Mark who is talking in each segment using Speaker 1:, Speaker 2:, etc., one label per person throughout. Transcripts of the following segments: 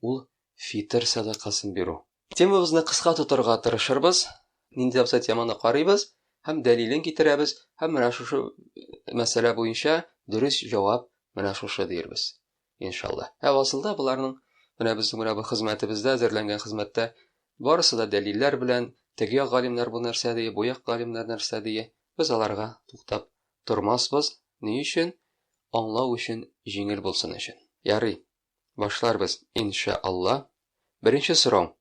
Speaker 1: ул фитыр сәдакасын бирү. Темабызны кыска тотарга тырышырбыз, нинди абзац теманы карыйбыз һәм дәлилен китерәбез һәм менә шушы мәсьәлә буенча дөрес җавап менә шушы диербез. Иншалла. Ә асылда боларның менә безнең менә бу хезмәтебездә әзерләнгән хезмәттә барысы да дәлилләр белән, теге як галимнәр бу нәрсә ди, бу як галимнәр нәрсә ди. Без аларга туктап тормасбыз. Ни өчен? Аңлау өчен, җиңел булсын өчен. Ярый. Башларбыз, ин шә Алла. Беренче сорау,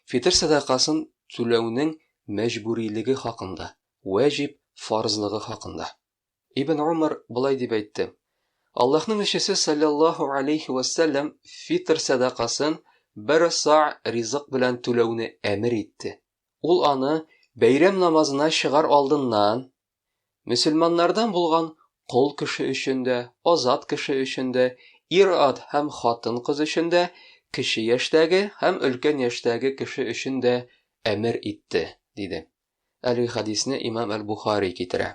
Speaker 1: фитыр сәдакасын түләүнең мәҗбүрилеге хакында, вәҗиб, фарзлыгы хакында. Ибн Умар болай дип әйтте, Аллаһның илчесе салләллаһу галәйһи вә сәлләм фитыр сәдакасын бер са ризык белән түләүне әмер итте. Ул аны бәйрәм намазына чыгар алдыннан Мөселманнардан булган кол кеше өчен дә, азат кеше өчен дә, ир-ат һәм хатын-кыз өчен дә, кече яшьтәге һәм өлкән яшьтәге кеше өчен дә әмер итте, диде. Әлеге хәдисне имам әл-Бухари китерә.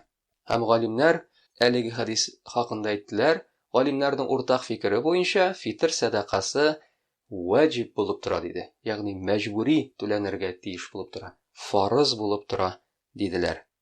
Speaker 1: Һәм галимнәр әлеге хәдис хакында әйттеләр, галимнәрнең уртак фикере буенча, фитыр сәдакасы ваҗиб булып тора, диде, ягъни мәҗбүри түләнергә тиеш булып тора, фарыз булып тора, диделәр.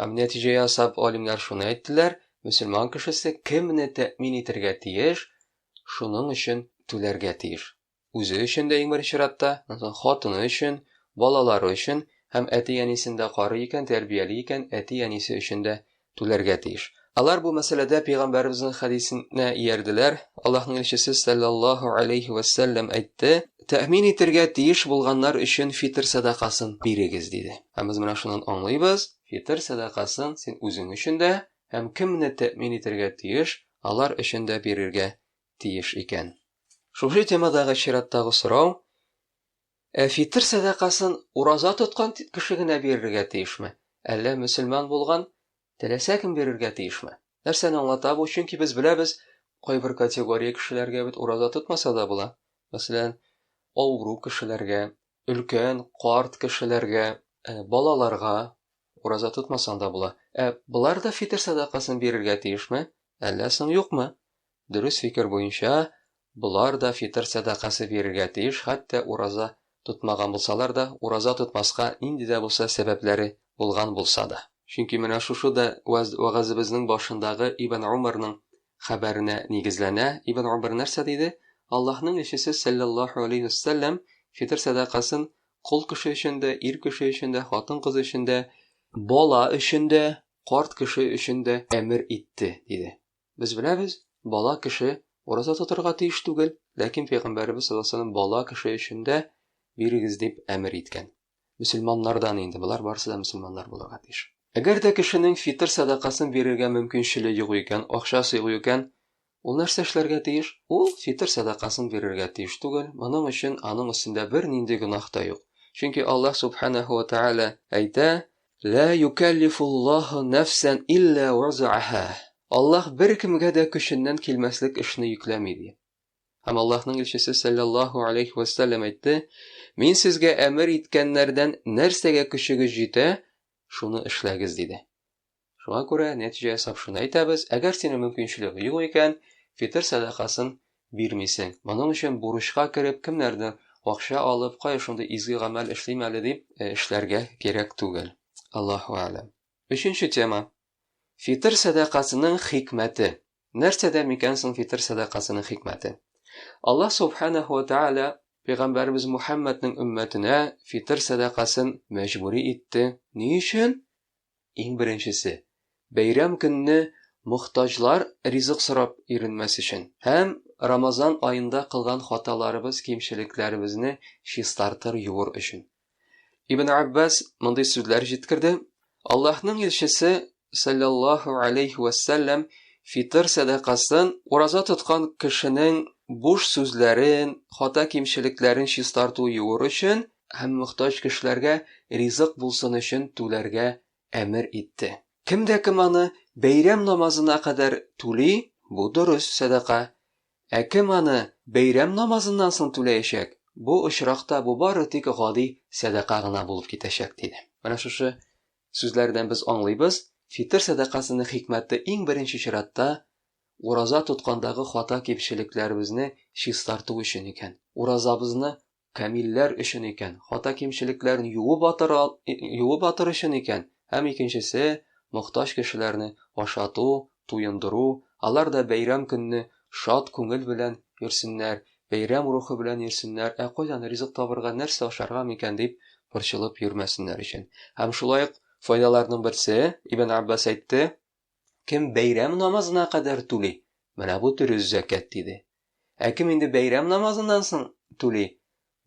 Speaker 1: Һәм нәтиҗә ясап, алимнәр шуны әйттеләр, мөселман кешесе кемне тәэмин итәргә тиеш, шуның өчен түләргә тиеш. Үзе өчен дә иң беренче чиратта, хатыны өчен, балалары өчен һәм әти-әнисен дә карый икән, тәрбияли икән, әти-әнисе өчен дә түләргә тиеш. Алар бу мәсьәләдә пәйгамбәребезнең хәдисенә иярделәр. Аллаһның илчесе саллаллаһу алейхи ва саллям әйтте: "Тәэмин итергә тиеш булганнар өчен фитр сәдакасын бирегез", диде. Һәм без менә шуннан аңлыйбыз, фитр сәдакасын син үзең өчен дә һәм кемне тәэмин итергә тиеш, алар өчен дә бирергә тиеш икән. Шушы темадагы чираттагы сорау, Ә фитр сәдакасын ураза тоткан кеше генә бирергә тиешме? Әллә мөселман булган Теләсә кем бирергә тиешме? Нәрсәне аңлата бу? Чөнки без беләбез, кайбер категория кешеләргә бит ураза тотмаса да була. Мәсәлән, авыру кешеләргә, өлкән, карт кешеләргә, э, балаларга ураза тотмасаң да була. Ә болар да фитер садакасын бирергә тиешме? Әллә соң юкмы? Дөрес фикер буенча, болар да фитыр сәдакасы бирергә тиеш, хәтта ураза тотмаган булсалар да, ураза тотмаска нинди дә булса сәбәпләре булган булса да. Чөнки менә шушы да вәгазебезнең башындагы Ибн Умарның хәбәренә нигезләнә, Ибн Умар нәрсә диде, Аллаһның илчесе сәлләллаһу галәйһи вә сәлләм фитыр сәдакасын кол кеше өчен дә, ир кеше өчен дә, хатын-кыз өчен дә, бала өчен дә, карт кеше өчен дә әмер итте, диде. Без беләбез, бала кеше ураза тотарга тиеш түгел, ләкин пәйгамбәребез саллаллаһу алейһи ва сәлләм бала кеше өчен дә бирегез дип әмер иткән. Мөселманнардан инде, болар барысы да мөселманнар булырга тиеш. Әгәр дә кешенең фитыр сәдакасын бирергә мөмкинчеле юк икән, акчасы юк икән, ул нәрсә эшләргә тиеш? Ул фитыр сәдакасын бирергә тиеш түгел, моның өчен аның өстендә бернинди гөнаһ та юк. Чөнки Аллаһ Субханәһү ва Тәгалә әйтә, Ла юкәллифуллаху нәфсән илля уазааһа. Аллаһ беркемгә дә көченнән килмәслек эшне йөкләми, ди. Һәм Аллаһның илчесе сәлләллаһу алейһи вә сәлләм әйтте, Мин сезгә әмер иткәннәрдән нәрсәгә көчегез җитә, шуны эшләгез, диде. Шуңа күрә нәтиҗә ясап шуны әйтәбез, әгәр синең мөмкинчелеге юк икән, фитыр сәдакасын бирмисең. Моның өчен бурычка кереп, кемнәрдер акча алып, кая шундый изге гамәл эшлим әле дип, эшләргә кирәк түгел. Аллаһу әгъләм. Өченче тема. Фитыр сәдакасының хикмәте. Нәрсәдә микән соң фитыр сәдакасының хикмәте? Аллаһ Субханаһу ва Тәгалә пәйгамбәребез Мухәммәднең өммәтенә фитыр сәдакасын мәҗбүри итте. Ни өчен? Иң беренчесе, бәйрәм көнне мохтаҗлар ризык сорап йөренмәс өчен һәм Рамазан аенда кылган хаталарыбыз, кимчелекләребезне чистартыр, юыр өчен. Ибн Габбас мондый сүзләр җиткерде, Аллаһның илчесе, салләллаһу алейһи вә сәлләм, фитыр сәдакасын ураза тоткан кешенең буш сүзләрен, хата-кимчелекләрен чистарту, юыр өчен, һәм мохтаҗ кешеләргә ризык булсын өчен түләргә әмер итте. Кем дә кем аны бәйрәм намазына кадәр түли, бу дөрес сәдака. Ә кем аны бәйрәм намазыннан соң түләячәк, бу очракта бу бары тик гади сәдака гына булып китәчәк, диде. Менә шушы сүзләрдән без аңлыйбыз, фитыр сәдакасының хикмәте иң беренче чиратта ураза тоткандагы хата-кимчелекләребезне чистарту өчен икән. Уразабызны камилләр өчен икән, хата-кимчелекләрен юып атыр, юып атыр өчен икән, һәм икенчесе, мохтаҗ кешеләрне ашату, туендыру, алар да бәйрәм көнне шат күңел белән йөрсеннәр, бәйрәм рухы белән йөрсеннәр, ә кайдан ризык табырга, нәрсә ашарга микән дип борчылып йөрмәсеннәр өчен. Һәм шулай ук файдаларның берсе, Ибн Аббас әйтте, Кем бәйрәм намазына кадәр түли, менә бу дөрес зәкәт, диде. Ә кем инде бәйрәм намазыннан соң түли,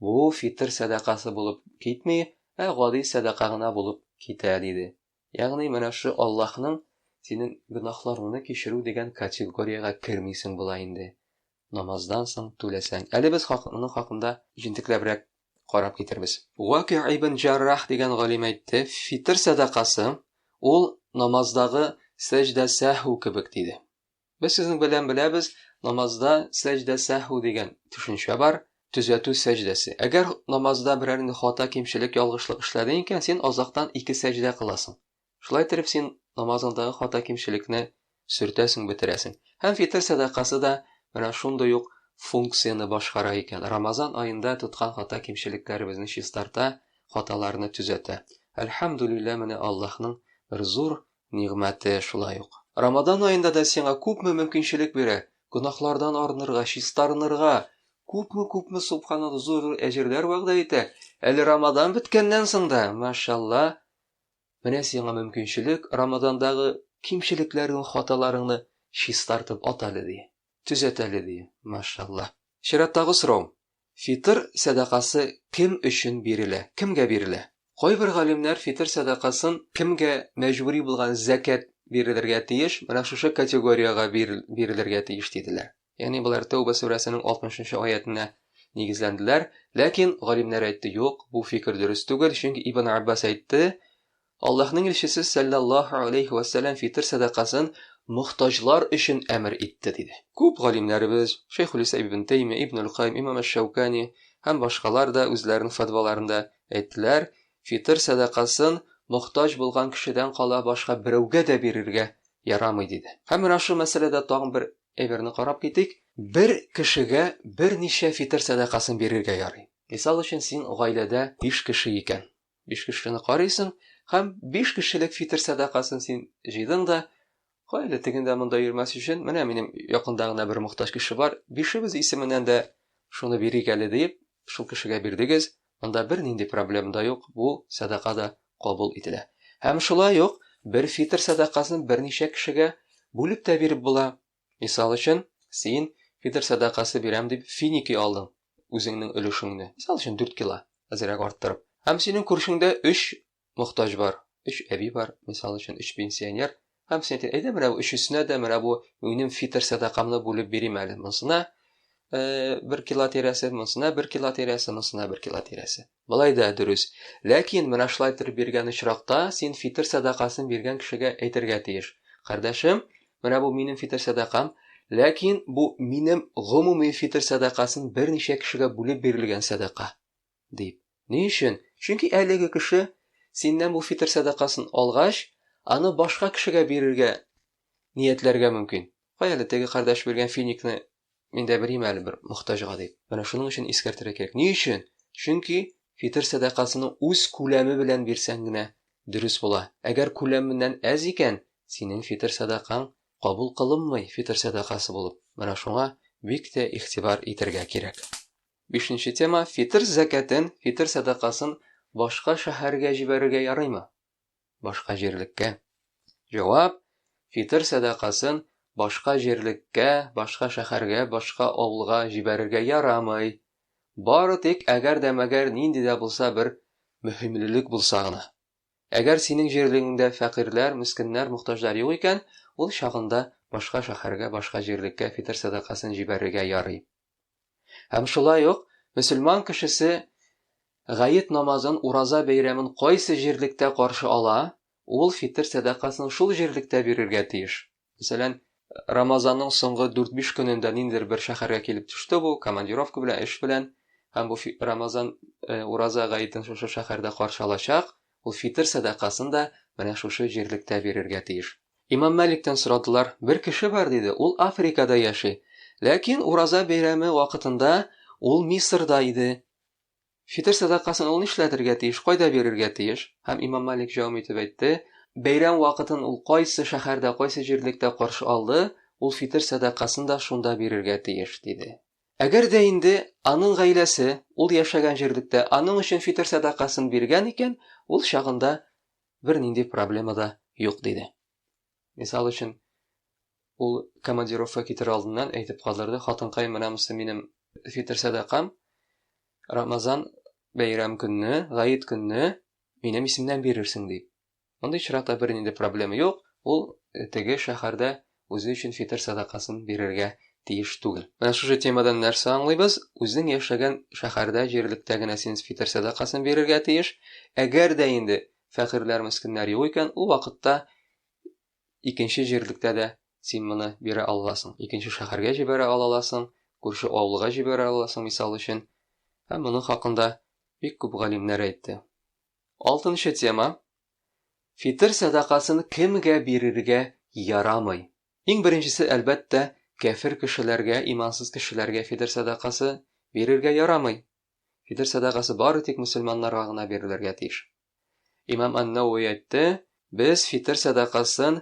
Speaker 1: бу фитр сәдакасы булып китми, ә гади сәдака гына булып китә, диде. Ягъни менә шушы Аллаһның синең гөнаһларыңны кичерү дигән категориягә кермисең була инде, намаздан соң түләсәң. Әле без хак, моның хакында җентекләбрәк карап китербез. Ваки ибн Җаррах дигән галим әйтте, фитыр сәдакасы, ул намаздагы сәҗдә сәһү кебек диде. Без сезнең белән беләбез, намазда сәҗдә сәһү дигән төшенчә бар, төзәтү сәҗдәсе. Әгәр намазда берәр инде хата, кимчелек, ялгышлык эшләдең икән, син азактан ике сәҗдә кыласың. Шулай иттереп син намазыңдагы хата-кимчелекне сөртәсең, бетерәсең. Һәм фитыр сәдакасы да менә шундый ук функцияне башкара икән. Рамазан аенда тоткан хата-кимчелекләребезне чистарта, хаталарны төзәтә. Әлхәмдүлилләһ, менә Аллаһның бер зур нигъмәте шулай ук. Рамазан аенда да сиңа күпме мөмкинчелек бирә, гөнаһлардан арынырга, чистарынырга, күпме-күпме субханаллаһ, зур-зур әҗерләр вәгъдә итә. Әле Рамазан беткәннән соң да, машаллаһ, Менә сиңа мөмкинчелек, Рамадандагы кимчелекләрең, хаталарыңны чистартып ат әле, ди. Төзәт әле, ди. Машалла. Чираттагы сорау, Фитыр сәдакасы кем өчен бирелә? Кемгә бирелә? Кайбер галимнәр фитыр сәдакасын кемгә мәҗбүри булган зәкят бирелергә тиеш, менә шушы категориягә бирелергә тиеш диделәр. Ягъни болар Тәүбә сүрәсенең 60 нчы аятенә нигезләнделәр. Ләкин галимнәр әйтте, юк, бу фикер дөрес түгел, чөнки Ибн Аббас әйтте, Аллаһның илчесе сәлләллаһу алейһи ва сәлләм фитр сәдакасын мохтаҗлар өчен әмер итте, диде. Күп галимнәребез, Шәйхулислам ибн Тәймия, Ибн аль-Каим, Имам әш-Шәүкани һәм башкалар да үзләренең фәтваларында әйттеләр, фитр сәдакасын мохтаҗ булган кешедән кала башка берәүгә дә бирергә ярамый, диде. Һәм менә шул мәсьәләдә тагын бер Әйберне карап китик. Бер кешегә берничә фитыр сәдакасын бирергә ярый. Мисал өчен, син гаиләдә биш кеше икән. Биш кешене карыйсың һәм биш кешелек фитыр сәдакасын син җыйдың да, Гаилә тегендә-монда йөрмәс өчен, менә минем якында гына бер мохтаҗ кеше бар, бишебез исеменнән дә шуны бирик әле, диеп, шул кешегә бирдегез. Анда бернинди проблем да юк, бу сәдака да кабул ителә. Һәм шулай ук бер фитр сәдакасын берничә кешегә бүлеп тә биреп була. Мисал өчен, син фитр сәдакасы бирәм дип финики алдың, үзеңнең өлешеңне, мисал өчен, дүрт кило, әзрәк арттырып. Һәм синең күршеңдә өч мохтаҗ бар, өч әби бар, мисал өчен, өч пенсионер, һәм син әйтә, әйдә, менә бу өчесенә дә менә бу минем фитер сәдакамны бүлеп бирим әле, монсына бер кило тирәсе, монсына бер кило тирәсе, монсына бер кило тирәсе. Болай да дөрес. Ләкин менә шулай итеп биргән очракта син фитер сәдакасын биргән кешегә әйтергә тиеш. Кардәшем, менә бу минем фитер сәдакам, ләкин бу минем гомуми фитер сәдакасын берничә кешегә бүлеп бирелгән сәдака. Дип. Ни өчен? Чөнки әлеге кеше синнән бу фитр сәдакасын алгач, аны башка кешегә бирергә ниятләргә мөмкин. Кая әле теге кардәш биргән финикны мин дә бирим әле бер мохтаҗга дип. Менә шуның өчен искәртергә кирәк. Ни өчен? Чөнки фитр сәдакасының үз күләме белән бирсәң генә дөрес була. Әгәр күләменнән әз икән, синең фитр сәдакаң кабул кылынмый фитр сәдакасы булып. Менә шуңа бик тә игътибар итәргә кирәк. Бишенче тема, фитыр зәкятен, фитыр сәдакасын башка шәһәргә җибәрергә ярыймы? Башка җирлеккә. Җавап, фитыр сәдакасын башка җирлеккә, башка шәһәргә, башка авылга җибәрергә ярамый. Бары тик әгәр дә мәгәр нинди дә булса бер мөһимлелек булса гына. Әгәр синең җирлегеңдә фәкыйрьләр, мескеннәр, мохтаҗлар юк икән, ул чагында башка шәһәргә, башка җирлеккә фитыр сәдакасын җибәрергә ярый. Һәм шулай ук мөселман кешесе гает намазын, ураза бәйрәмен кайсы җирлектә каршы ала, ул фитер сәдакасын шул җирлектә бирергә тиеш. Мәсәлән, Рамазанның соңгы дүрт-биш көнендә ниндидер бер шәһәргә килеп төште бу, командировка белән, эш белән, һәм бу Рамазан ураза гаетен шушы шәһәрдә каршы алачак, Ул фитыр сәдакасын да менә шушы җирлектә бирергә тиеш. Имам Мәликтән сорадылар, Бер кеше бар, диде, ул Африкада яши. Ләкин Ураза бәйрәме вакытында ул Мисырда иде. Фитыр сәдакасын ул нишләтергә тиеш, кайда бирергә тиеш? Һәм Имам Мәлик җавап итеп әйтте, Бәйрәм вакытын ул кайсы шәһәрдә, кайсы җирлектә каршы алды, ул фитыр сәдакасын да шунда бирергә тиеш, диде. Әгәр дә инде аның гаиләсе ул яшәгән җирлектә аның өчен фитер сәдакасын биргән икән, ул чагында бернинди проблема да юк, диде. Мисал өчен, ул командировка китер алдыннан әйтеп калдырды, хатынкай, менә монысы минем фитер сәдакам, Рамазан бәйрәм көнне, гаит көнне минем исемнән бирерсең, дип. Мондый очракта бернинди проблема юк, ул теге шәһәрдә үзе өчен фитер сәдакасын бирергә тиеш түгел. Менә шушы темадан нәрсә аңлыйбыз? Үзең яшәгән шәһәрдә, җирлектә генә син фитер сәдакасын бирергә тиеш. Әгәр дә инде фәкыйрьләр, мескеннәр юк икән, ул вакытта икенче җирлектә дә син моны бирә аласың. Икенче шәһәргә җибәрә аласың, күрше авылга җибәрә аласың, мисал өчен. Һәм моның хакында бик күп галимнәр әйтте. Алтынчы тема, фитер сәдакасын кемгә бирергә ярамый? Иң беренчесе, әлбәттә, кәфер кешеләргә, имансыз кешеләргә фитер сәдакасы бирергә ярамый. Фитер сәдакасы бары тик мөселманнарга гына бирелергә тиеш. Имам Ан-Науи әйтте, без фитер сәдакасын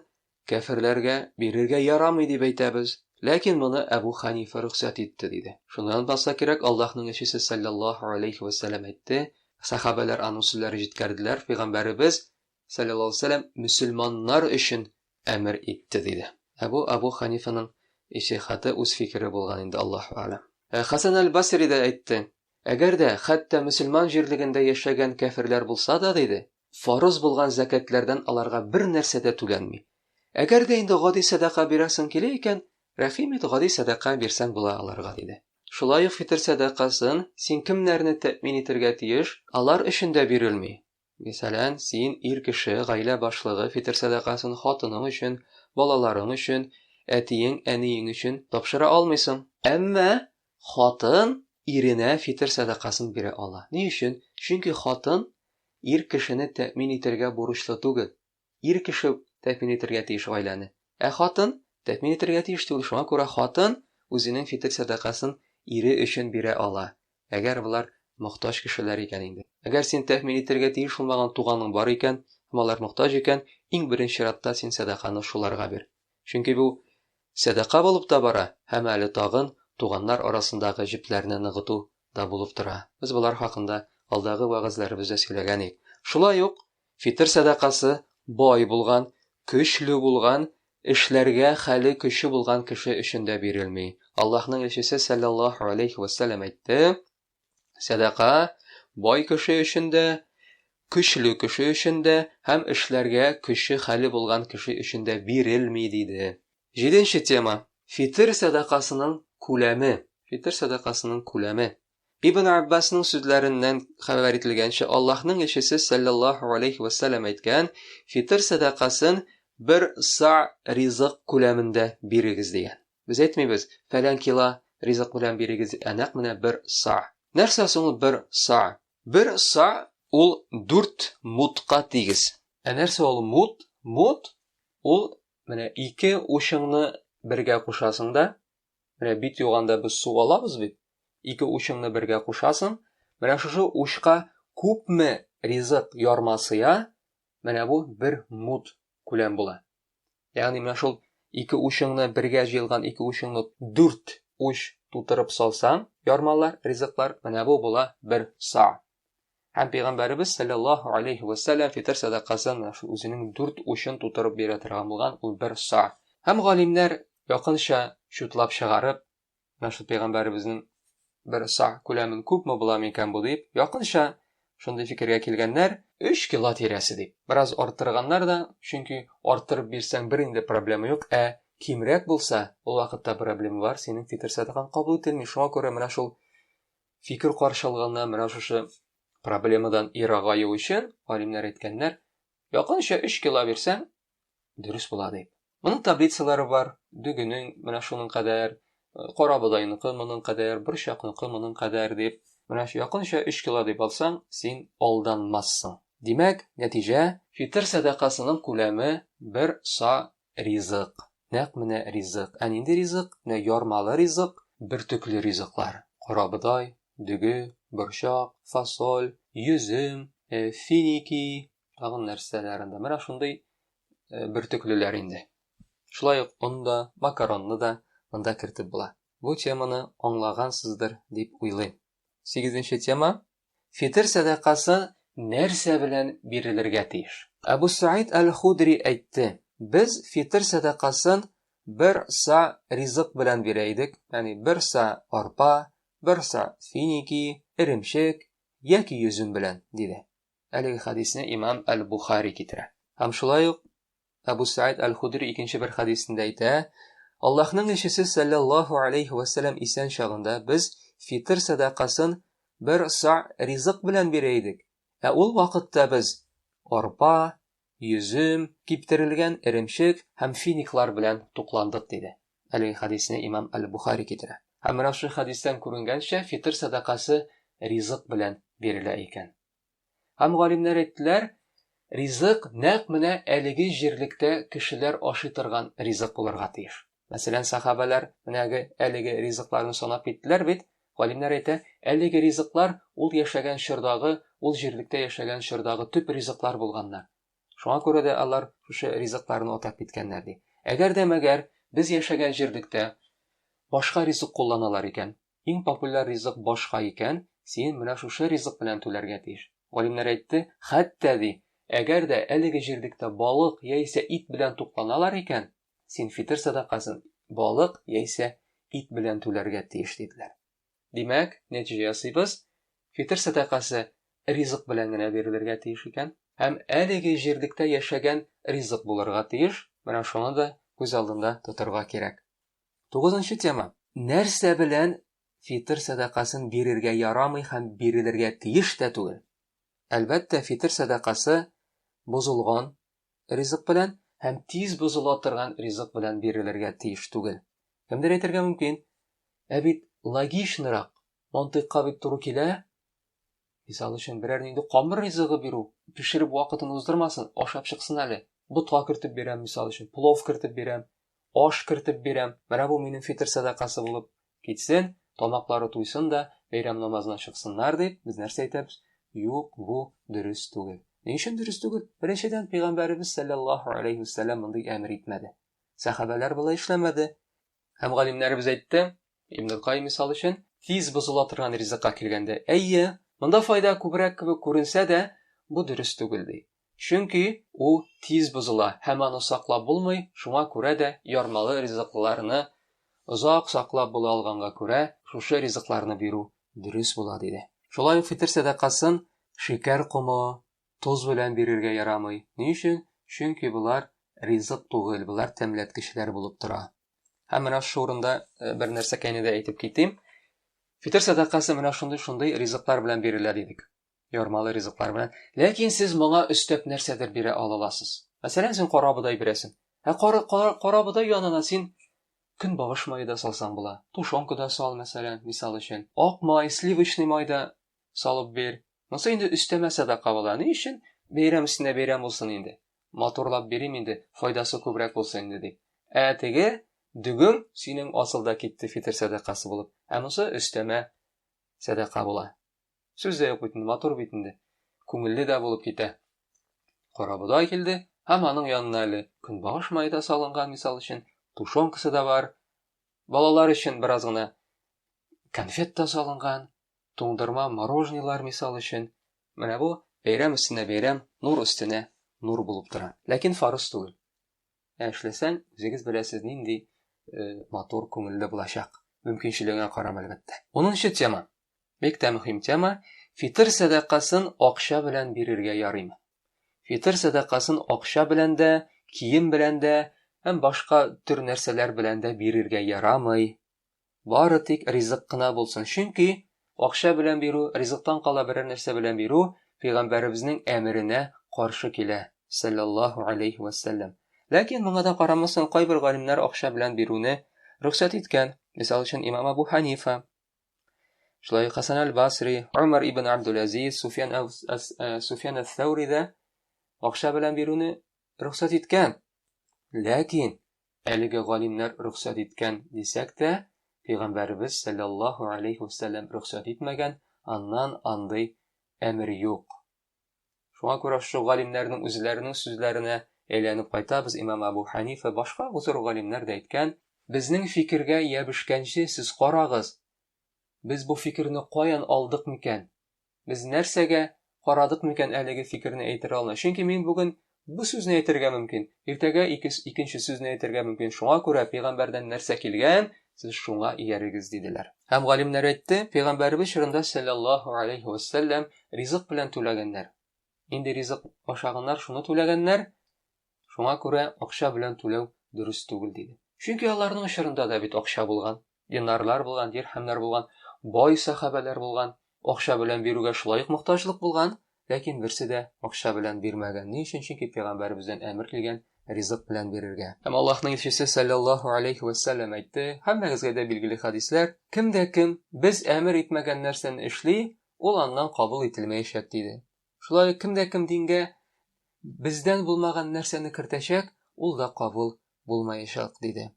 Speaker 1: Кәферләргә бирергә ярамый дип әйтәбез, ләкин моны Әбү Хәнифә рөхсәт итте, диде. Шуннан булса кирәк, Аллаһның илчесе салләллаһу галәйһи вә сәлләм әйтте, сәхабәләр аның сүзләре җиткерделәр, пәйгамбәребез салләллаһу галәйһи вә сәлләм мөселманнар өчен әмер итте, диде. Ә бу Әбү Хәнифәнең иҗтихады, үз фикере булган инде, Аллаһу әгъләм. Ә Хәсән әл-Басри дә әйтте, Әгәр дә хәтта мөселман җирлегендә яшәгән кәферләр булса да, диде, Фарыз булган зәкятләрдән аларга бер нәрсә дә түләнми. Әгәр дә инде гади сәдака бирәсең килә икән, рәхим ит, гади сәдака бирсәң була аларга, диде. Шулай ук фитыр сәдакасын син кемнәрне тәэмин итергә тиеш, алар өчен дә бирелми. Мисалән, син, ир кеше, гаилә башлыгы, фитыр сәдакасын хатының өчен, балаларың өчен, әтиең, әниең өчен тапшыра алмыйсың. Әмма Хатын иренә фитер сәдакасын бирә ала. Ни өчен? Чөнки хатын ир кешене тәэмин итәргә бурычлы түгел. Ир кеше тәэмин итәргә тиеш гаиләне. Ә хатын тәэмин итәргә тиеш түгел. Шуңа күрә хатын үзенең фитер сәдакасын ире өчен бирә ала, әгәр болар мохтаҗ кешеләр икән инде. Әгәр син тәэмин итәргә тиеш булмаган туганың бар икән һәм алар мохтаҗ икән, иң беренче чиратта син сәдаканы шуларга бир. Чөнки бу сәдака булып та бара һәм әле тагын туганнар арасындагы җепләрне ныгыту да булып тора. Без болар хакында алдагы вәгазьләребездә сөйләгән ик. Шулай ук фитыр сәдакасы бай булган, көчле булган, эшләргә хәле көче булган кеше өчен дә бирелми. Аллаһның илчесе сәлләллаһу галәйһи вә сәлләм әйтте, Сәдака бай кеше өчен дә, көчле кеше өчен дә һәм эшләргә көче хәле булган кеше өчен дә бирелми, диде. Җиденче тема, фитер сәдакасының күләме. Фитер сәдакасының күләме. Ибн Аббасның сүзләреннән хәбәр ителгәнчә, Аллаһның илчесе сәлләллаһу алейһи вә сәлләм әйткән, фитер сәдакасын бер са ризык күләмендә бирегез дигән. Без әйтмибез, фәлән кила ризык белән бирегез, ә нәкъ менә бер са. Нәрсә соң ул бер са? Бер са ул дүрт мудка тигез. Ә нәрсә ул муд? Муд ул, менә ике учыңны бергә кушасың да, менә бит юганда без су алабыз бит, ике учыңны бергә кушасың, менә шушы учка күпме ризык ярма сыя, Менә бу бер мут күләм була. Ягъни менә шул ике учыңны бергә җыелган ике учыңны дүрт уч тутырып салсаң, ярмалар, ризыклар, менә бу була бер са. Һәм пәйгамбәребез саллаллаһу алейхи ва саллям фитр садакасын шул үзенең дүрт учын тутырып бирә торган булган, ул бер са. Һәм галимнәр якынча чутлап чыгарып, Менә шул пәйгамбәребезнең бер са күләмен күпме була микән бу дип, якынча шундый фикергә килгәннәр, 3 кило тирәсе дип. Бераз арттырганнар да, чөнки арттырып бирсәң бер инде проблема юк, ә кимрәк булса, ул вакытта проблема бар, синең фитр сәдакаң кабул ителми. Шуңа күрә менә шул фикер каршы алганнар, менә шушы проблемадан ерагаю өчен галимнәр әйткәннәр, якынча 3 кило бирсәң, дөрес була дип. Моның таблицалары бар, дөгенең менә шуның кадәр, кара бодайныкы моның кадәр, борчакныкы моның кадәр дип. Менә якынча 3 кило дип алсаң, син алданмассың. Димәк, нәтиҗә, фитр сәдакасының күләме бер са ризык. Нәкъ менә ризык. Ә нинди ризык? Менә ярмалы ризык, бөртекле ризыклар. Карабодай, дөге, борчак, фасоль, йөзем, э, финики, тагын нәрсәләрен дә. Менә шундый э, бөртеклеләр инде. Шулай ук он да, макаронны да монда кертеп була. Бу теманы аңлагансыздыр дип уйлыйм. Сигезенче тема фитер сәдакасы нәрсә белән бирелергә тиеш? Абу Саид Аль-Худри әйтте, без фитер сәдакасын бер са ризык белән бирә идек, ягъни бер са арпа, бер са финики, эремчек яки йөзем белән, диде. Әлеге хәдисне имам Әл-Бухари китерә. Һәм шулай ук Әбү Сәәд Әл-Худри икенче бер хәдисендә әйтә, Аллаһның илчесе сәлләллаһу галәйһи вә сәлләм исән чагында без фитыр сәдакасын бер са ризык белән бирә идек, ә ул вакытта без арпа, йөзем, киптерелгән эремчек һәм финиклар белән тукландык, диде. Әлеге хәдисне имам әл-Бухари китерә. Һәм менә шул хәдистән күренгәнчә, фитыр сәдакасы ризык белән бирелә икән. Һәм галимнәр әйттеләр, ризык нәкъ менә әлеге җирлектә кешеләр ашый торган ризык булырга тиеш. Мәсәлән, сахабәләр менәге әлеге ризыкларны санап киттеләр бит. Галимнәр әйтә, әлеге ризыклар ул яшәгән чордагы, ул җирлектә яшәгән чордагы төп ризыклар булганнар. Шуңа күрә дә алар шушы ризыкларны атап киткәннәр, ди. Әгәр дә мәгәр без яшәгән җирлектә башка ризык кулланалар икән, иң популяр ризык башка икән, син менә шушы ризык белән түләргә тиеш. Галимнәр әйтте, хәтта ди, әгәр дә әлеге җирлектә балык яисә ит белән тукланалар икән, Син фитер сәдакасын балык яисә ит белән түләргә тиеш, диделәр. Димәк, нәтиҗә ясыйбыз, фитер сәдакасы ризык белән генә бирелергә тиеш икән. Һәм әлеге җирлектә яшәгән ризык булырга тиеш, менә шуны да күз алдында тотырга кирәк. Тугызынчы тема. Нәрсә белән фитер сәдакасын бирергә ярамый һәм бирелергә тиеш тә түгел? Әлбәттә, фитер сәдакасы бозылган, ризык белән һәм тиз бозыла торган ризык белән бирелергә тиеш түгел. Кемдер әйтергә мөмкин, ә бит логичнырак, мантыйкка бит туры килә. Мисал өчен, берәр нинди камыр ризыгы бирү, пешереп вакытын уздырмасын, ашап чыксын әле. Ботка кертеп бирәм, мисал өчен, плов кертеп бирәм. аш кертеп бирәм, менә бу минем фитер сәдакасы булып китсен, тамаклары туйсын да, бәйрәм намазына чыксыннар, дип, без нәрсә әйтәбез? Юк, бу дөрес түгел. Ни өчен дөрес түгел? Беренчедән, пәйгамбәребез сәлләллаһу алейһи вәсәлләм мондый әмер итмәде. Сәхабәләр болай эшләмәде. Һәм галимнәребез әйтте, Ибн Кай мисал өчен, тиз бозыла торган ризыкка килгәндә, әйе, монда файда күбрәк кебек күренсә дә, бу дөрес түгел ди. Чөнки ул тиз бозыла һәм аны саклап булмый, шуңа күрә дә ярмалы ризыкларны озак саклап була алганга күрә, шушы ризыкларны бирү дөрес була, диде. Шулай ук фитер сәдакасын шикәр комы, тоз белән бирергә ярамый. Ни өчен? Чөнки болар ризык түгел, болар тәмләткечләр булып тора. Һәм менә шушы урында э, бер нәрсәкәйне дә әйтеп китим. Фитер сәдакасы менә шундый-шундый ризыклар белән бирелә дидек. ярмалы ризыклар белән. Ләкин сез моңа өстәп нәрсәдер бирә алаласыз. Мәсәлән, син кара бодай бирәсең. Ә кара, кара, кара бодай янына син көн багыш мае да салсаң була. Тушонка да сал, мәсәлән, мисал өчен. Ак май, сливочный май да салып бир. Монсы инде өстәмә садака була. Ни өчен? Бәйрәм өстенә бәйрәм булсын инде. Матурлап бирим инде, файдасы күбрәк булсын инде дип. Ә теге дөгем синең асылда китте фитер сәдакасы булып. Ә монсы өстәмә сәдака була. Сүз дә юк бит инде, матур бит инде. Күңелле дә булып китә. Карабодай килде һәм аның янына әле көнбагыш мае да салынган, мисал өчен, тушенкасы да бар. Балалар өчен бераз гына конфет та салынган, туңдырма, мороженилар, мисал өчен. Менә бу бәйрәм өстенә бәйрәм, нур өстенә нур булып тора. Ләкин фарыз түгел. Ә эшләсәң, үзегез беләсез, нинди э, матур, күңелле булачак. Мөмкинчелегеңә карап, әлбәттә. Унынчы тема. Бик тә мөһим тема. Фитр сәдакасын акча белән бирергә ярыймы? Фитр сәдакасын акча белән дә, кием белән дә һәм башка төр нәрсәләр белән дә бирергә ярамый. Бары тик ризык кына булсын. Чөнки акча белән бирү, ризыктан кала берәр нәрсә белән бирү пәйгамбәребезнең әмеренә каршы килә, саллаллаһу алейхи ва саллям. Ләкин моңа да карамастан кайбер галимнәр акча белән бирүне рөхсәт иткән. Мисал өчен имам Абу Ханифа, Шулай Хасан аль-Басри, Умар ибн Абдул-Азиз, Суфьян Суфьян ас-Саури да акча белән бирүне рөхсәт иткән. Ләкин әлеге галимнәр рөхсәт иткән дисәк тә, пәйгамбәребез саллаллаһу алейхи ва саллям рөхсәт итмәгән, аннан андый әмер юк. Шуңа күрә шушы галимнәрнең үзләренең сүзләренә әйләнеп кайтабыз. Имам Абу Ханифа, башка зур галимнәр дә әйткән, безнең фикергә ябешкәнче сез карагыз, без бу фикерне каян алдык микән? Без нәрсәгә карадык микән әлеге фикерне әйтергә алына? Чөнки мин бүген Бу сүзне әйтергә мөмкин, иртәгә икес, икенче сүзне әйтергә мөмкин, шуңа күрә пәйгамбәрдән нәрсә килгән, сез шуңа иярегез, диделәр. Һәм галимнәр әйтте, пәйгамбәребез чорында сәлләллаһу аләйһи вә сәлләм ризык белән түләгәннәр. Нинди ризык ашаганнар, шуны түләгәннәр, шуңа күрә акча белән түләү дөрес түгел, диде. Чөнки аларның чорында да бит акча булган. Динарлар булган, дирхәмнәр булган, бай сәхабәләр булган, акча белән бирүгә шулай ук мохтаҗлык булган, ләкин берсе дә акча белән бирмәгән. Ни өчен? Чөнки пәйгамбәребездән әмер килгән ризык белән бирергә. Һәм Аллаһның илчесе саллаллаһу алейхи ва саллям әйтте, һәммәгезгә дә билгеле хәдисләр, кем дә кем без әмер итмәгән нәрсәне эшли, ул аннан кабул ителмәячәк, диде. Шулай ук кем дә кем дингә бездән булмаган нәрсәне кертәчәк, ул да кабул булмаячак, диде.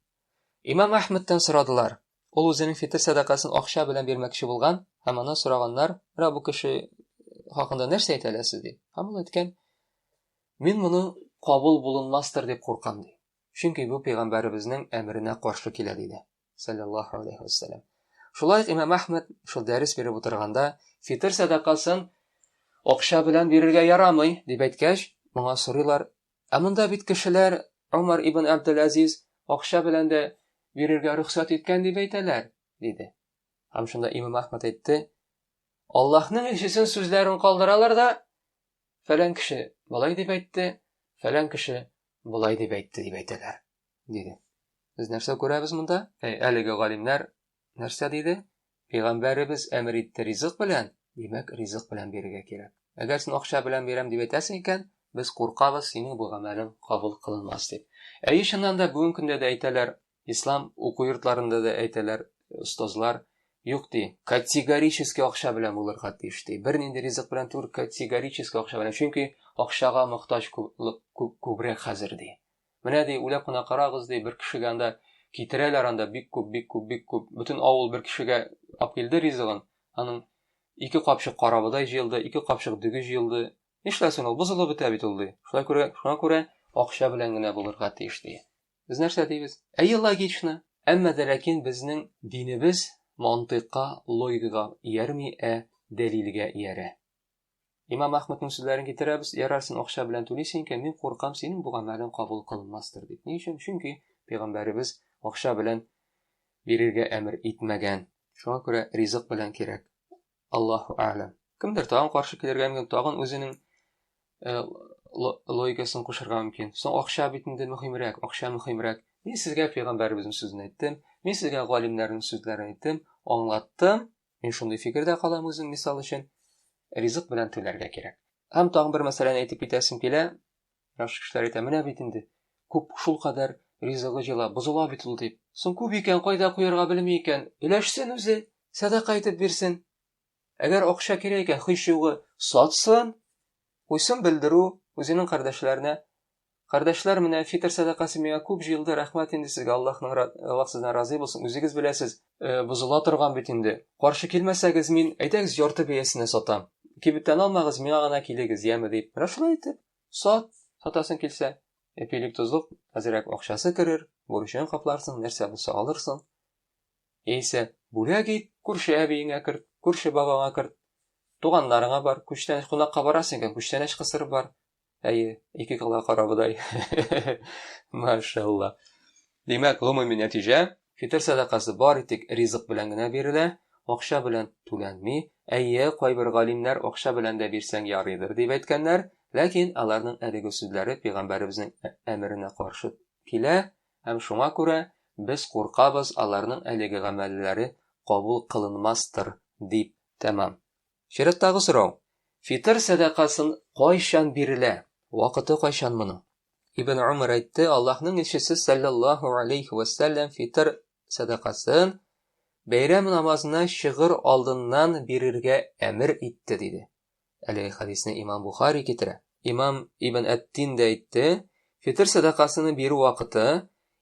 Speaker 1: Имам Әхмәттән сорадылар. Ул үзенең фитыр сәдакасын акча белән бирмәкче булган һәм аннан сораганнар, Ра бу кеше хакында нәрсә әйтә аласыз, ди. Һәм ул әйткән, Мин моның кабул булынмастыр дип куркам, ди. Чөнки бу пәйгамбәребезнең әмеренә каршы килә, диде. Саллаллаһу алейһи ва сәлләм. Шулай ук Имам Әхмәт шул дәрес биреп утырганда, фитыр сәдакасын акча белән бирергә ярамый, дип әйткәч, моңа сорыйлар, Ә монда бит кешеләр Омар ибн Әбделәзиз акча белән дә бирергә рөхсәт иткән дип әйтәләр, диде. Һәм шунда имам Әхмәт әйтте, Аллаһның илчесен сүзләрен калдыралар да, фәлән кеше болай дип әйтте, фәлән кеше болай дип әйтте дип әйтәләр, диде. Без нәрсә күрәбез монда? Әлеге галимнәр Нәрсә диде? Пәйгамбәребез әмер итте ризык белән, димәк, ризык белән бирергә кирәк. Әгәр син акча белән бирәм дип әйтәсең икән, без куркабыз, синең бу гамәлең кабул кылынмас дип. Әйе, чыннан да бүгенге көндә дә әйтәләр, ислам уку йортларында да әйтәләр, остазлар юк ди. Категорически акча белән булырга тиеш ди. Бернинди ризык белән түгел, категорически акча белән. Чөнки акчага мохтаҗ күбрәк хәзер ди. Менә, ди, уйлап кына карагыз, ди, бер кешегә анда китерәләр анда бик күп, бик күп, бик күп. Бөтен авыл бер кешегә ап килде ризыгын. Аның ике капчык карабодай җыелды, ике капчык дөге җыелды. Нишләсен ул, бозылып бетә бит ул, ди. Шулай күрә, шуңа күрә акча белән генә булырга тиеш, ди. Без нәрсә дибез? Әйе, логично. Әмма дә ләкин безнең динебез мантыйкка, логикага иярми, ә дәлилгә иярә. Имам Ахмадның сүзләрен китерәбез, ярарсың акча белән түлисең икән, мин куркам, синең бу гамәлең кабул кылынмастыр дип. Ни өчен? Чөнки пәйгамбәребез акча белән бирергә әмер итмәгән. Шуңа күрә ризык белән кирәк. Аллаһу а'лам. Кемдер тагын каршы килергә мөмкин, тагын үзенең э, логикасын кушырга мөмкин. Соң акча бит инде мөһимрәк, акча мөһимрәк. Мин сезгә пәйгамбәребезнең сүзен әйттем, мин сезгә галимнәрнең сүзләрен әйттем, аңлаттым, Мин шундый фикердә калам үзем, мисал өчен, ризык белән түләргә кирәк. Һәм тагын бер мәсьәләне әйтеп китәсем килә. Яхшы кешеләр әйтә, менә бит инде, күп шул кадәр ризыгы җыла, бозыла бит ул дип. Соң күп икән, кайда куярга белми икән, өләшсен үзе, сәдака итеп бирсен. Әгәр акча кирәк икән, һич югы сатсын, куйсын белдерү үзенең кардәшләренә, Кардәшләр, менә фитр сәдакасы миңа күп җыелды, рәхмәт инде сезгә, Аллаһның ра, Аллаһ сездән разый булсын, үзегез беләсез, бозыла торган бит инде, каршы килмәсәгез, мин, әйдәгез, ярты бәясенә сатам, кибетләналмагыз, миңа гына килегез, яме, дип, менә шулай итеп, сат, сатасың килсә, эпилик-тозлык, әзрәк акчасы керер, бурычың капларсың, нәрсә булса алырсың, яисә бүләк ит, күрше әбиеңә керт, күрше бабаңа керт, туганнарыңа бар, күчтәнәч, кунакка барасың икән, күчтәнәч кысырып бар, Әйе, ике кала карабыдай. Машалла. Димәк, гомуми нәтиҗә, фитр сәдакасы бар итек ризык белән генә бирелә, акча белән түләнми. Әйе, кайбер галимнәр акча белән дә бирсәң ярыйдыр дип әйткәннәр, ләкин аларның әлеге сүзләре пәйгамбәребезнең ә-, әмеренә каршы килә, һәм шуңа күрә без куркабыз аларның әлеге гамәлләре кабул кылынмастыр дип. Тәмам. Чираттагы сорау. Фитыр сәдакасын кайчан бирелә? Вакыты кайчан моның? Ибн Умар әйтте, Аллаһның илчесе саллаллаһу алейхи ва саллям фитыр сәдакасын бәйрәм намазына чыгыр алдыннан бирергә әмер итте диде. Әлеге хадисне имам Бухари китерә. Имам Ибн Әттин дә әйтте, фитыр сәдакасыны бирү вакыты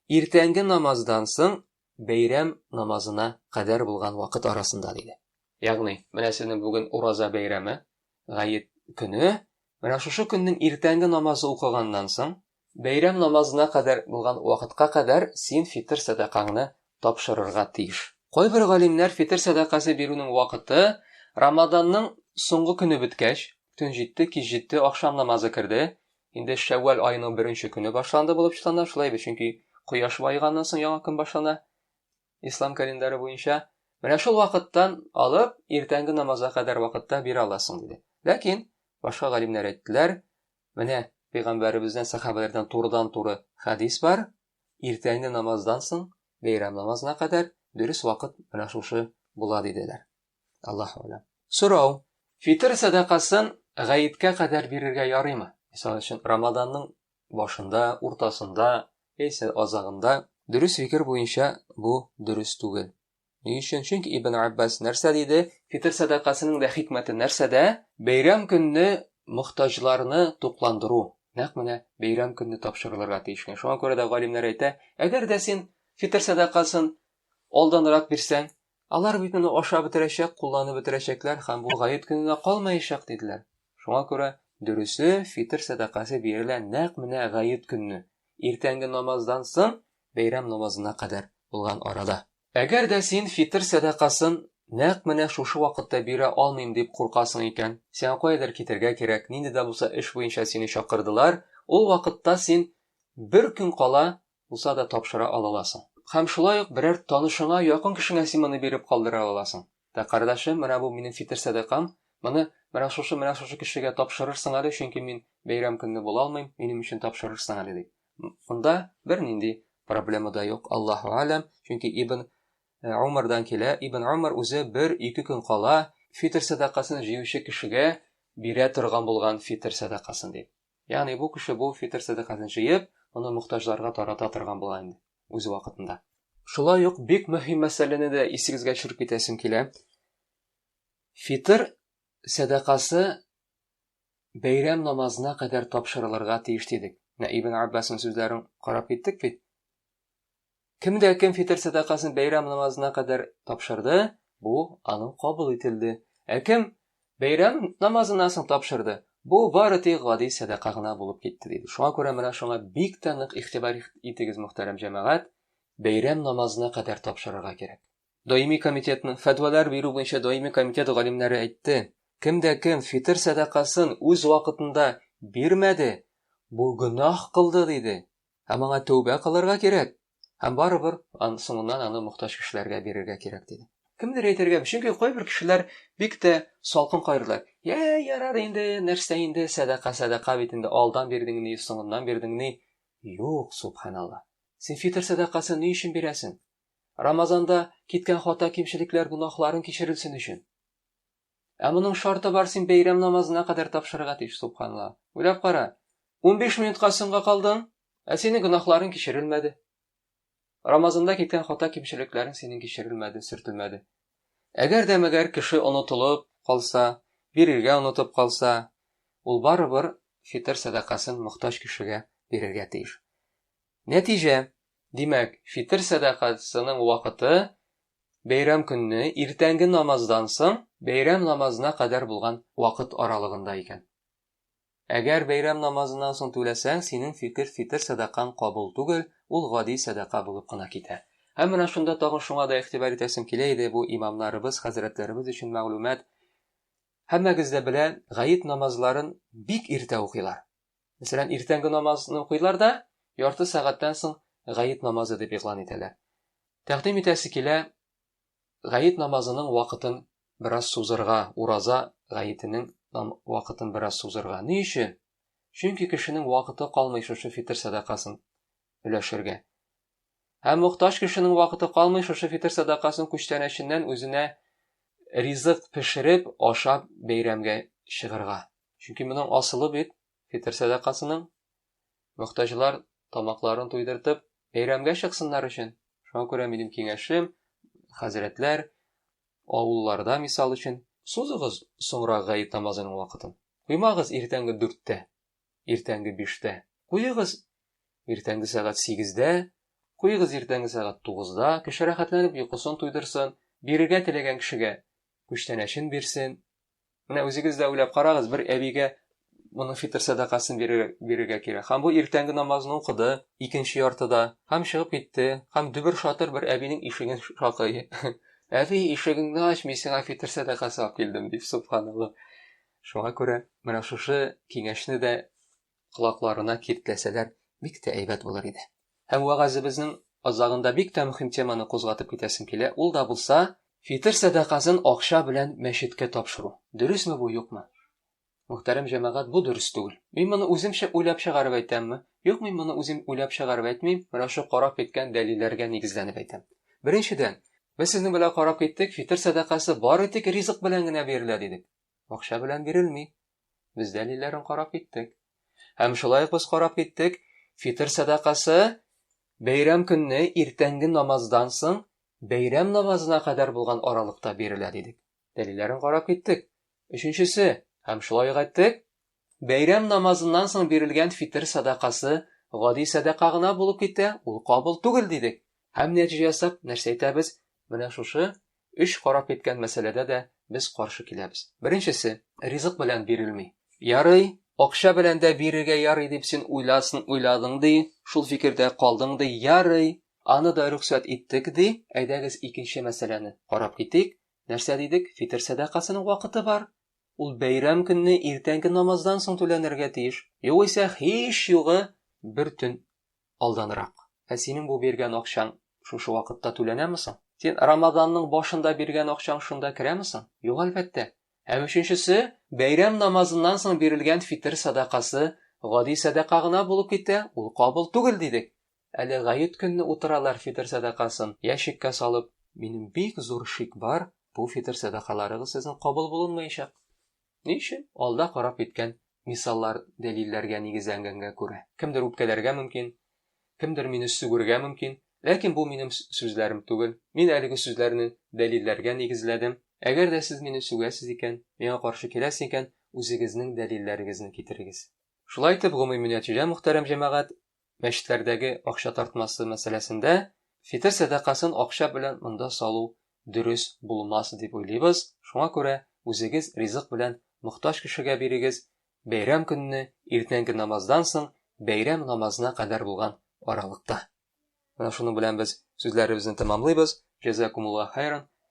Speaker 1: иртәнге намаздан соң Бәйрәм намазына кадәр булган вакыт арасында, диде. Ягъни, менә сезнең бүген Ураза бәйрәме, Гает көне, менә шушы көннең иртәнге намазы укыганнан соң, бәйрәм намазына кадәр булган вакытка кадәр син фитыр сәдакаңны тапшырырга тиеш. Кайбер галимнәр фитыр сәдакасы бирүнең вакыты Рамаданның соңгы көне беткәч, төн җитте, кич җитте, ахшам намазы керде, Инде Шәввәл аеның беренче көне башланды булып санала, шулай бит, чөнки кояш баеганнан соң яңа көн башлана ислам календаре буенча. Менә шул вакыттан алып иртәнге намазга кадәр вакытта бирә аласың диде. Ләкин башка галимнәр әйттеләр, менә пәйгамбәребездән, сахабәләрдән турыдан-туры хадис бар, иртәнге намаздан соң бәйрәм намазына кадәр дөрес вакыт менә шушы була диделәр. Аллаһ алам. Сорау. Фитр сәдакасын гаеткә кадәр бирергә ярыймы? Мисал өчен, Рамаданның башында, уртасында, яисә азагында. Дөрес фикер буенча бу дөрес түгел. Ни өчен? Чөнки Ибн Аббас нәрсә диде? Фитр сәдакасының да хикмәте нәрсәдә? Бәйрәм көнне мохтаҗларны тукландыру. Нәкъ менә бәйрәм көнне тапшырылырга тиеш. Шуңа күрә дә галимнәр әйтә, әгәр дә син фитр сәдакасын алданрак бирсәң, Алар бит моны ашап бетерәчәк, кулланып бетерәчәкләр һәм бу гает көненә калмаячак, диделәр. Шуңа күрә дөресе, фитыр сәдакасы бирелә нәкъ менә гает көнне, иртәнге намаздан соң бәйрәм намазына кадәр булган арада. Әгәр дә син фитыр сәдакасын нәкъ менә шушы вакытта бирә алмыйм дип куркасың икән, сиңа каядыр китәргә кирәк, нинди дә булса эш буенча сине чакырдылар, ул вакытта син бер көн кала булса да тапшыра алаласың. Һәм шулай ук берәр танышыңа, якын кешеңә син моны биреп калдыра алаласың. Дә, кардәшем, менә бу минем фитер сәдакам, моны менә шушы, менә шушы кешегә тапшырырсың әле, чөнки мин бәйрәм көнне була алмыйм, минем өчен тапшырырсың әле, дип. Монда бернинди проблема да юк, Аллаһу Алям, чөнки Ибн Умардан килә, Ибн Умар үзе бер-ике көн кала фитер сәдакасын җыючы кешегә бирә торган булган фитер сәдакасын, дип. Ягъни бу кеше бу фитыр сәдакасын җыеп, моны мохтаҗларга тарата торган була инде үз вакытында. Шулай ук бик мөһим мәсьәләне дә исегезгә төшереп китәсем килә. Фитыр сәдакасы бәйрәм намазына кадәр тапшырылырга тиеш дидек. Менә Ибн Аббасның сүзләрен карап киттек бит. Кемгә кем фитер сәдакасын бәйрәм намазына кадәр тапшырды, бу аның кабул ителде. Ә кем бәйрәм намазыннан соң тапшырды, бу бары тик гади сәдака гына булып китте, диде. Шуңа күрә менә шуңа бик тә нык игътибар итегез, мөхтәрәм җәмәгать, бәйрәм намазына кадәр тапшырырга кирәк. Даими комитетның, фәтвалар бирү буенча даими комитет галимнәре әйтте, кемгә кем фитер сәдакасын үз вакытында бирмәде, бу гөнаһ кылды, диде. Һәм аңа тәүбә кылырга кирәк. Һәм барыбер ан, соңыннан аны мохтаҗ кешеләргә бирергә кирәк, диде. Кемдер әйтергәме, чөнки кайбер кешеләр бик тә салкын кайрыйлар. Йә, ярар инде, нәрсә инде, сәдака, сәдака бит инде, алдан бирдеңни, соңыннан бирдеңни. Юк, субханалла. Син фитр сәдакасын ни өчен бирәсең? Рамазанда киткән хата-кимчелекләр гөнаһларың кичерелсен өчен. Ә моның шарты бар, син бәйрәм намазына кадәр тапшырырга тиеш, субханла. Уйлап кара, унбиш минутка соңга калдың, ә синең гөнаһларың кичерелмәде. Рамазанда киткән хата-кимчелекләрең синең кичерелмәде, сөртелмәде. Әгәр дә мәгәр кеше онытылып калса, бирергә онытып калса, ул барыбер фитыр сәдакасын мохтаҗ кешегә бирергә тиеш. Нәтиҗә, димәк, фитер сәдакасының вакыты бәйрәм көнне иртәнге намаздан соң бәйрәм намазына кадәр булган вакыт аралыгында икән. Әгәр бәйрәм намазыннан соң түләсәң, синең фикер фитер сәдакаң кабул түгел, ул гади сәдака булып кына китә. Һәм менә шунда тагын шуңа да игътибар итәсем килә иде, бу имамнарыбыз, хәзрәтләребез өчен мәгълүмат. Һәммәгез дә белә, гает намазларын бик иртә укыйлар. Мәсәлән, иртәнге намазны укыйлар да, ярты сәгатьтән соң гает намазы дип игълан итәләр. Тәкъдим итәсе килә, гает намазының вакытын бераз сузырга, ураза гаетенең вакытын бераз сузырга. Ни өчен? Чөнки кешенең вакыты калмый шушы фитр сәдакасын өләшергә. Һәм мохтаҗ кешенең вакыты калмый шушы фитр сәдакасын күчтәнәченнән үзенә ризык пешереп, ашап бәйрәмгә чыгырга. Чөнки моның асылы бит фитер сәдакасының мөхтаҗлар тамакларын туйдыртып, бәйрәмгә чыксыннар өчен. Шуңа күрә минем киңәшем, хәзрәтләр, авылларда мисал өчен, сузыгыз соңрак гает намазының вакытын. Куймагыз иртәнге дүрттә, иртәнге биштә. Куегыз иртәнге сәгать сигездә, куегыз иртәнге сәгать тугызда, кеше рәхәтләнеп йокысын туйдырсын, бирергә теләгән кешегә күчтәнәчен бирсен, Менә үзегез дә уйлап карагыз, бер әбигә моның фитр сәдакасын бирергә кирәк. Һәм бу иртәнге намазын укыды, икенче яртыда, һәм чыгып китте, һәм дөбер шатыр бер әбинең ишеген шакый. Әби, ишегеңне ач, мин сиңа фитр сәдакасы алып килдем, дип, субханалла. Шуңа күрә менә шушы киңәшне дә колакларына киртләсәләр, бик тә әйбәт булыр иде. Һәм вәгазебезнең азагында бик тә мөһим теманы кузгатып китәсем килә, ул да булса, фитыр сәдакасын акча белән мәчеткә тапшыру. Дөресме бу, юкмы? Мөхтәрәм җәмәгать, бу дөрес түгел. Мин моны үземчә уйлап чыгарып әйтәмме? Юк, мин моны үзем уйлап чыгарып әйтмим, менә шул карап киткән дәлилләргә нигезләнеп әйтәм. Беренчедән, без сезнең белән карап киттек, фитыр сәдакасы бары тик ризык белән генә бирелә дидек. Акча белән бирелми. Без дәлилләрен карап киттек. Һәм шулай ук без карап киттек, фитр сәдакасы бәйрәм көнне иртәнге намаздан соң бәйрәм намазына кадәр булган аралыкта бирелә дидек. Дәлилләрен карап киттек. Өченчесе, һәм шулай ук әйттек, бәйрәм намазыннан соң бирелгән фитр сәдакасы гади сәдака гына булып китә, ул кабул түгел дидек. Һәм нәтиҗә ясап нәрсә әйтәбез? Менә шушы Өч карап киткән мәсьәләдә дә без каршы киләбез. Беренчесе, ризык белән бирелми. Ярый, акча белән дә бирергә ярый дип син уйласын уйладың ди, шул фикердә калдың ди, ярый, аны да рөхсәт иттек ди, әйдәгез икенче мәсьәләне карап китик. Нәрсә дидек, фитер сәдакасының вакыты бар. Ул бәйрәм көнне иртәнге намаздан соң түләнергә тиеш. Югыйсә, һич югы, бер төн алданрак. Ә синең бу биргән акчаң шушы вакытта түләнәме соң? Син Рамазанның башында биргән акчаң шунда керәме соң? Юк, әлбәттә. Һәм өченчесе, бәйрәм намазыннан соң бирелгән фитер сәдакасы гади сәдака гына булып китә, ул кабул түгел, дидек. Әле гает көнне утыралар фитер сәдакасын ящикка салып. Минем бик зур шик бар, бу фитер сәдакаларыгыз сезнең кабул булынмаячак. Ни өчен? Алда карап киткән мисаллар, дәлилләргә нигезләнгәнгә күрә. Кемдер үпкәләргә мөмкин, кемдер мине сүгергә мөмкин, ләкин бу минем сүзләрем түгел. Мин әлеге сүзләрне дәлилләргә нигезләдем. Әгәр дә сез мине сүгәсез икән, миңа каршы киләсез икән, үзегезнең дәлилләрегезне китерегез. Шулай итеп, гомуми нәтиҗә, мөхтәрәм җәмәгать, мәчетләрдәге акча тартмасы мәсьәләсендә фитер сәдакасын акча белән монда салу дөрес булмас дип уйлыйбыз, шуңа күрә үзегез ризык белән мохтаҗ кешегә бирегез, бәйрәм көнне иртәнге намаздан соң бәйрәм намазына кадәр булган аралыкта. Менә шуның белән без сүзләребезне тәмамлыйбыз. Җәзакумуллаһ хәйран.